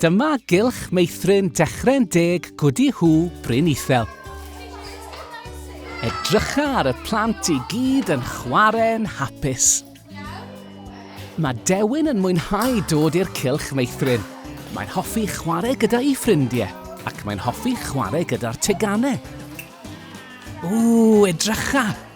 Dyma gylch meithrin dechrau'n deg gwdi hw Bryn Ithel. Edrycha ar y plant i gyd yn chwarae'n hapus. Mae Dewin yn mwynhau dod i'r cylch meithrin. Mae'n hoffi chwarae gyda'i ffrindiau ac mae'n hoffi chwarae gyda'r teganau. Ww, edrycha!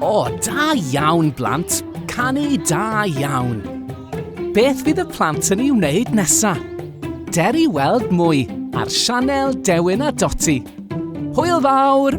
O, oh, da iawn, blant. Canu da iawn. Beth fydd y plant yn ei wneud nesa? Der i weld mwy ar sianel Dewin a Doti. Hwyl fawr!